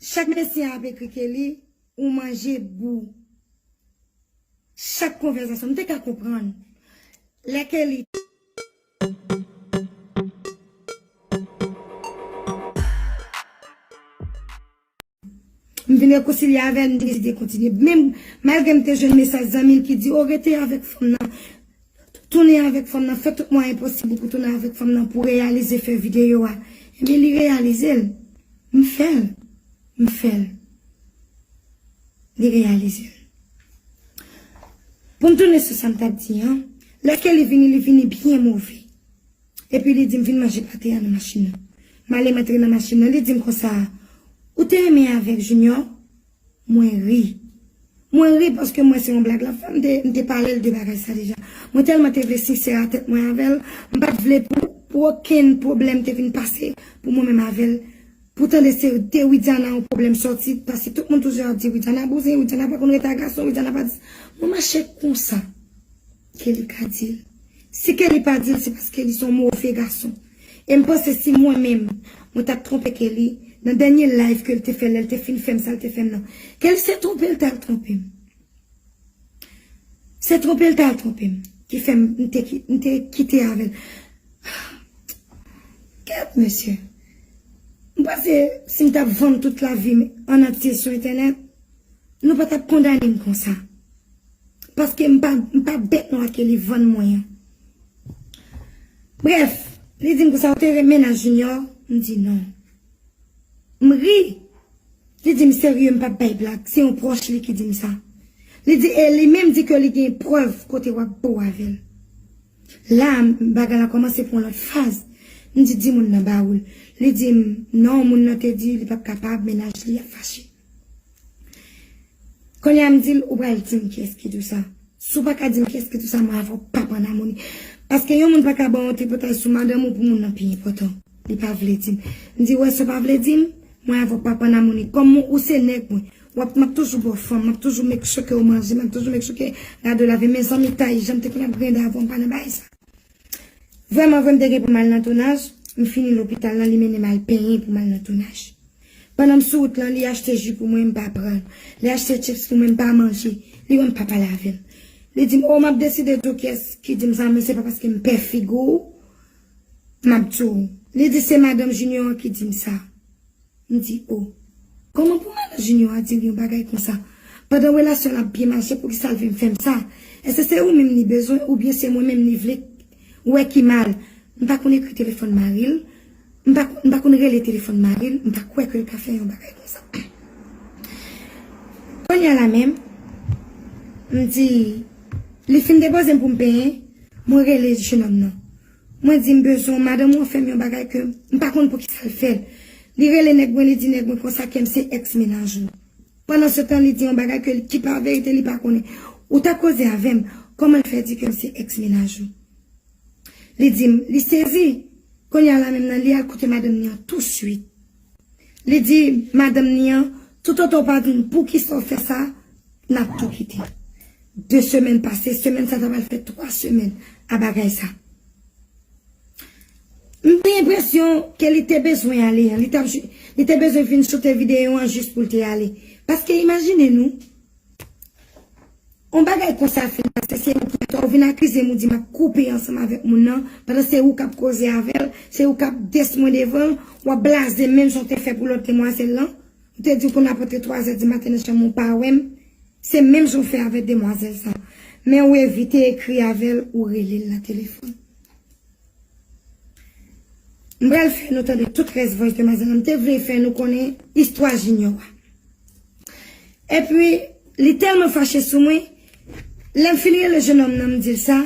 Chak mesye a ap ekri Kelly ou manje bou chak konvèzasyon m te ka konprann lè Kelly t m vin rekonsilye avè l m deside kontinye menm malgre m te jwenn mesaj zanmi l ki di o rete avèk fanm nan. Tounen avèk fanm nan, fè tout mwayen posib ou pou tounen avèk fanm nan pou reyalize fè videyo a. Ebyen li reyalize l. M fè l. M fè l. Li reyalize l. Pou m tounen sou sa m t ap di an, lè Kelly vini, li vini byen move. Epi li di m vin manje pate a nan machin nan. M ale m antre nan machin nan, li di m konsa, Ou te renmen avèk Junior? Mwen ri. Mwen ri paske m wè se yon blag lap fè. M te m te pale l de bagay sa deja. Mwen tèlman te vle sinsè a tèt mwen avè l, m pat vle pou pou okenn pwoblèm te vin pase pou mwen menm avè l. Pou tande se de Widiana yon pwoblèm sòti paske tout moun toujou ap di Widiana bouzen, Widiana pa konn rete ak gason, Widiana pa di sa. Mwen mache konsa. Kelly ka dil. Si Kelly pa dil se pas Kelly son move gason. Em panse si mwen menm mwen tap tronpe Kelly nan denye live kel te fè lel te fin fem sal te fem nan. Kelly se tronpel tal tronpem. Se tronpel tal tronpem ki fem m te kite avel. Kèt mesye. M panse sim tap vann tout lavim an antye sou entenet nou patap kondanem konsa. Paske m pa m pa bèt nwa ke li vann mwen an. Brèf, li di m konsa ou te renmen nan Junior? M di non. M ri. Li di m serye m pa bay blag, se yon pwòch li ki di m sa. Li di e li menm di ke li gen prèv kote w ap bo avè l. La a bagay la kòmanse pran lòt faz. M di di moun nan ba ou l. Li di m non moun nan te di li pa p kapab mennaj li ap fache. Kounye a m di l ou pral di m kiyès ki di w sa. Si w pa ka di m kiyès ki di w sa, m ava w pap ann amoni. Paske yon moun pa ka ban w yon tripotay sou madanm ou pou moun nan pi enpòtan. Li pa vle di m. M di w wè sa w pa vle di m, mwen avè w pap ann amoni. Kòm ou se nèg mwen, w ap m ap toujou ba w fanm, m ap toujou make sure ke ou manje, m ap toujou make sure ke rad ou lave. Men zanmitay, jan m te konn ap grende avè w, m pa nan bagay sa. Vrèman vre m te gen pou m al nan tounaj, m fini lopital lan li mennen m al penyen pou m al nan tounaj. Pandan m sou wout lan li achte ji pou mwen m pa pran l, li achte chips pou mwen m pa manje, li wè m pa pale avè l. Li di m oh m ap deside di w kyès ki di m sa men se pa paske m pè figi w m ap di w. Li di se madanm Junior an ki di m sa. M di oh. Kòman pou madan Junior a dil yon bagay konsa? Pandan relasyon l ap byen mache poukisa l vin fèm sa? Èske se ou menm li bezwen oubyen se mwen menm li vle wè ki mal? M pa konn ekri telefòn mari l, m pa m pa konn rele telefòn mari l, m pa kwè ke l ka fè yon bagay konsa. Kounya la menm, m di, li fin depoze m pou m penyen, mwen rele jenòm nan. Mwen di m bezwen w madanm ou an fè m yon bagay ke m pa konn poukisa l fè l. Li rele nèg mwen li di nèg mwen konsa ke m se èks mennaj li. Pandansetan li di yon bagay ke ki pa verite li pa konnen. Ou ta koze avè m, kòman l fè di ke m se èks mennaj ou? Li di m, li sezi! Kounye a la menm nan li al kote madanm li an tousuit. Li di madanm ni an, Toutotan w pa di n poukisa w fè sa, n ap tou kite. De semèn pase, semèn sa ta pral fè twa semèn a bagay sa. M gen enpresyon ke li te bezwen ale, li t ap jou, li te bezwen fin choute videyo an jis pou l te ale. Paske imajine nou. On bagay konsa fin pase se ou ki atò ou vin akizem ou di map koupe ansanm avèk moun nan pandan se ou kap koze avèl se ou kap des mwen devanl wap blazem menm jan ou te fè pou lòt demwazèl lan ou te diw konn ap antre 3 zè di maten nan chanm ou pa wèm se menm jan ou fè avèk demwazèl sa men ou evite ekri avèl ou relel nan telefòn mpral fè nou tande tout rès vòys demwazèl lan mte vle fè nou konnen istwa Junior a. Epi, li tèlman fache sou mwen, lè m fin rele jenòm nan m di l sa,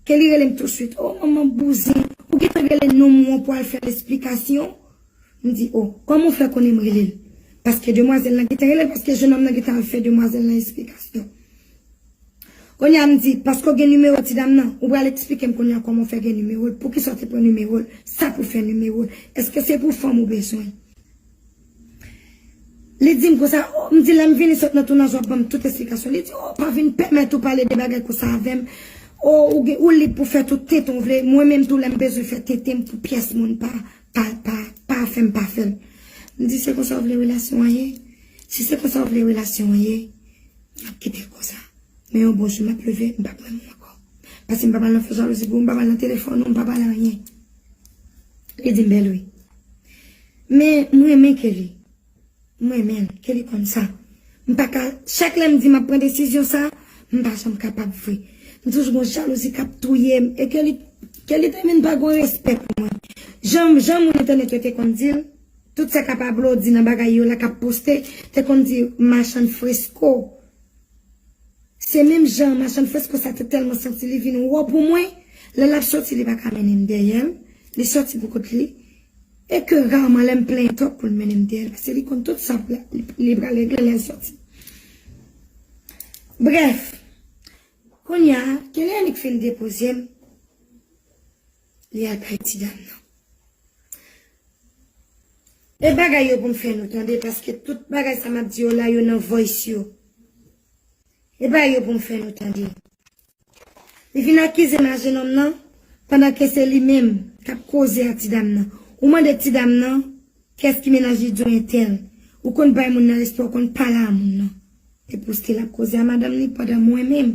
ke li rele m tousuit, O, manman bouzin, ou gen tan rele nonm ou an pou al fè l esplikasyon? M di, O, kòman ou fè konnen m rele l? Paske demwazèl lan gen tan rele l, paske jenòm nan gen tan al fè demwazèl lan esplikasyon. Kounye a m di, paske ou gen nimewo ti dam nan, ou pral esplike m kounye a kòman ou fè gen nimewo l, poukisa ou te pran nimewo l, sa pou w fè nimewo l, èske se pou fanm ou bezwen? Li di m konsa, oh, m di lè m vini sot nan Tounanz w ap ban m tout esplikasyon. Li di, oh, pa vin pèmèt ou pale de bagay konsa avè m. Oh, ou gen, ou lib pou fè tout tenten w vle. Mwen menm tou lè m bezwen fè tenten m pou pyès moun pa, pa, pa, pa fè m pa fè l. M di, se konsa w vle relasyon an ye? Si se konsa w vle relasyon an ye, n ap kite l konsa. Men yon bon jou m ap leve, m p ap menm ou ankò. Paske m p ap al nan fè jalouzi pou ou, m p ap al nan telefòn ou, m p ap al anyen. Li dim bèl wi. Men m renmen Kelly. M renmen l. Kelly konn sa. M pa ka, chak lè m di m ap pran desizyon sa, m pa janm kapab vre. M toujou gon jalouzi k ap touye m. E Kelly, Kelly te vin pa gon respè pou mwen. Jan, jan moun entènèt yo te konn di l, tout sa k a Pablo di nan bagay yo la k ap poste, te konn di machann fresko. Se menm jan machann fès konsa te tèlman santi li vin wo pou mwen, lè l ap soti li pa ka mennen m dèyè l, li soti pou kont li, e ke raman lè m plenyen twòp pou l mennen m dèyè l pase li konn tout sa li pral regle lè l soti. Brèf, kounya Kenny annik fin depoze m, li al bay ti dam nan. E bagay yo pou m fè nou tande paske tout bagay sa m ap di yo la yo nan voice yo. E bay yo pou m fè nou tande. Li vin akize m a jenòm nan pandan ke se li menm k ap koze a ti dam nan. Ou mande ti dam nan kès ki mennaj li di w entèl. Ou konn bay moun nan respè ou konn pale a moun nan. Epouske l ap koze a madanm li pandan mwen menm.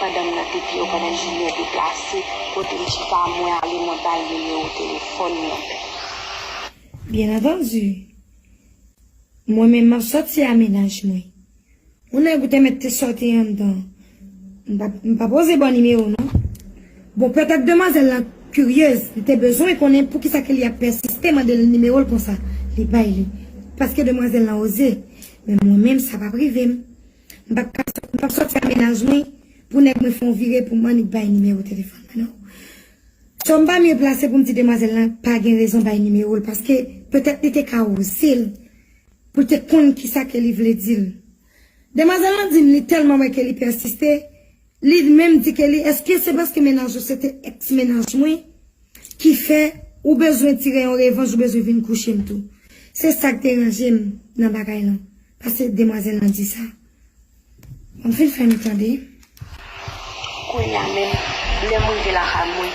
Pandan m nan depi yo pandan Julien deplase kote m chita a mwen ale mwen bal nimewo telefòn mwen. Bien entendu. Mwen menm map sòti a mennaj mwen. Yon nèg ou te mèt te sòti anndan m pap oze baw nimewo non. Bon pètèt demwazèl lan kiryez li te bezwen konnen poukisa ke li ap pèsiste mande l nimewo l konsa li bay li paske demwazèl lan oze men mwen menm sa pap rive m. M pap ka sot, m pap soti a menaj mwen pou nèg mwen fon vire pou m annik bay nimewo telefòn mwen non. So m pa mye plase pou m di demwazèl lan pa gen rezon bay nimewo l paske petèt li te ka oze l pou l te konn kisa ke li vle di l. Demwazèl lan di m li tèlman wè ke li pèsiste Li menm di Kelly eske se paske mennaj ou se te ex mennaj mwen ki fè ou bezwen tire yon revanj ou bezwen vin kouche m tou. Se sa k deranje m nan bagay lan pase demwazèl lan di sa. Wap vin fè m tande. Kounya menm lèm rive lakay mwen.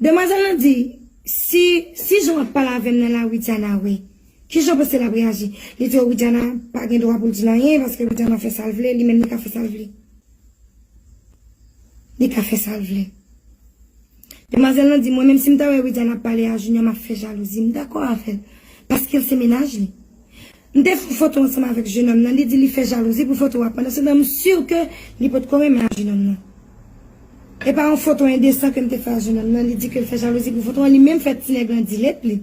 Demwazel lan di si si jan wap pale avem nan la widiana we kijan w panse lap reaji li di oh widiana pa gen dwa poul dil anyen paske widiana fè sal vle li menm li ka fè sal vle li ka fè sal vle demwazel lan di mwen menm sim ta wè widiana ap pale a junior map fè jalouzi m dakò avèl paskel se mennaj li M te fè foto ansanm avèk jenòm nan, li di li fè jalouzi pou foto a pandansetan m sur ke li potko renmen a jenòm nan. E pa yon foto endesan ke m te fè a jenòm nan, li di ke l fè jalouzi pou foto an, li menm fè ti nèg lan dilet li.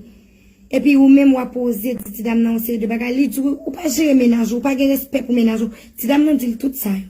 Epi ou menm wap oze di ti dam nan yon seri de bagay, li di ou pa jere mennaj ou, ou pa gen respè pou mennaj ou, ti dam nan di l tout sa yo.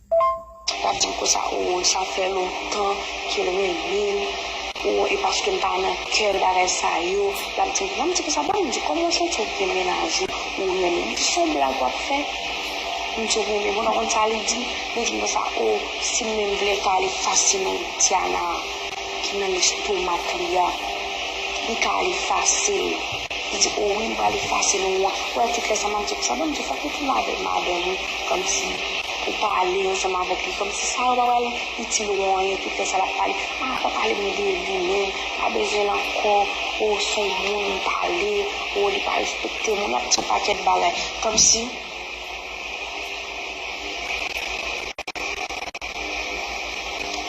Lap dim konsa ooh sa fè lontan kel renmenm ooh e paskem pa nan kèl bagay sa yo lap dim konsa mwen di konsa banm di kòman ou santi ou gen mennaj ou ou renmen li di son blag wap fè m di ou renmen bon nan konn sa li dim li dim konsa ooh sim menm vle pale fasilman Diana. ki nan lestomak li a, li ka al efase l. Li di, o wi, m pral efase l, ou wè tout lè sa m ap di, sa vle m di fòk ou tounen avèk madanm ou, kòmsi pou pale ansanm avèk li, kòmsi sa yo pa pral itil ou anyen, tout lè sa l ap pale, pa anko pale m de li menm, m pa bezwen l ankò, o s on moun m pale, o li pa respekte m, ou nan pti yon pakèt bagay, kòmsi.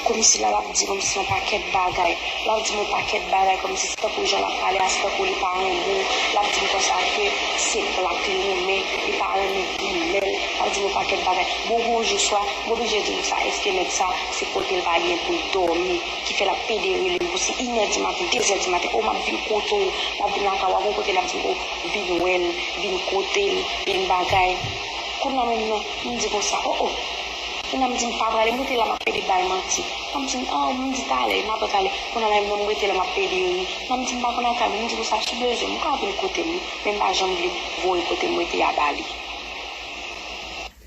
Komsi la lap di komsi yon pakèt bagay lap dim yon pakèt bagay komsi se tankou jan lap pale a se tankou li pa renmenw lap dim konsa ke se black li renmen li pa renmen grimèl lap dim yon pakèt bagay bon gon jou swa m oblije di nou sa eske nèg sa se kotel pa gen poul dòmi ki fè lap pede relem pou se inè di maten dezè di maten oh map vin kote w map vin lakay w a gon kote lap dim oh vin wèl. vin kote m e n bagay. Kounye a moun nan m di konsa, o o. Kounye a m di m pa prale, m rete la m ap pede bay manti. Nan m di m, an, m di talè, m apre talè. Kounye a la e mwen m rete la m ap pede ri. Nan m di m pa konn al kay moun, m di konsa, si bezwen m ka vin kote m wi, men m pa janm vle voye kote m rete a ba li.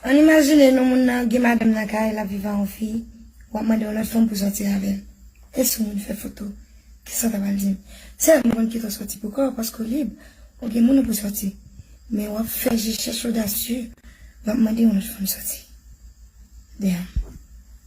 An imajine nou moun nan gen madanm nan kay lap viv a yon fi wap mande yon lòt fanm pou sòti avèl e si yon moun fè foto kisa w ta pral dil sèm nou konn kite w sòti pou kòw paske w lib ou gen moun ou pou sòti men wap fè je chèch odasye wap mande yon lòt fanm sòti damn.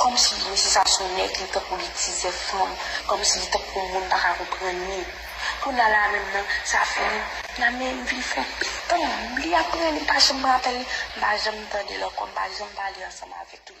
Kòmsi mesye sa son nèg li tankou li tizè fanm kòmsi li tankou moun paka konprann li kounya la menm nan sa fini la men m vin fon pil tan m li aprè li m pa janm rapèl li m pa janm tandel ankò m pa janm pale ansanm avèk li.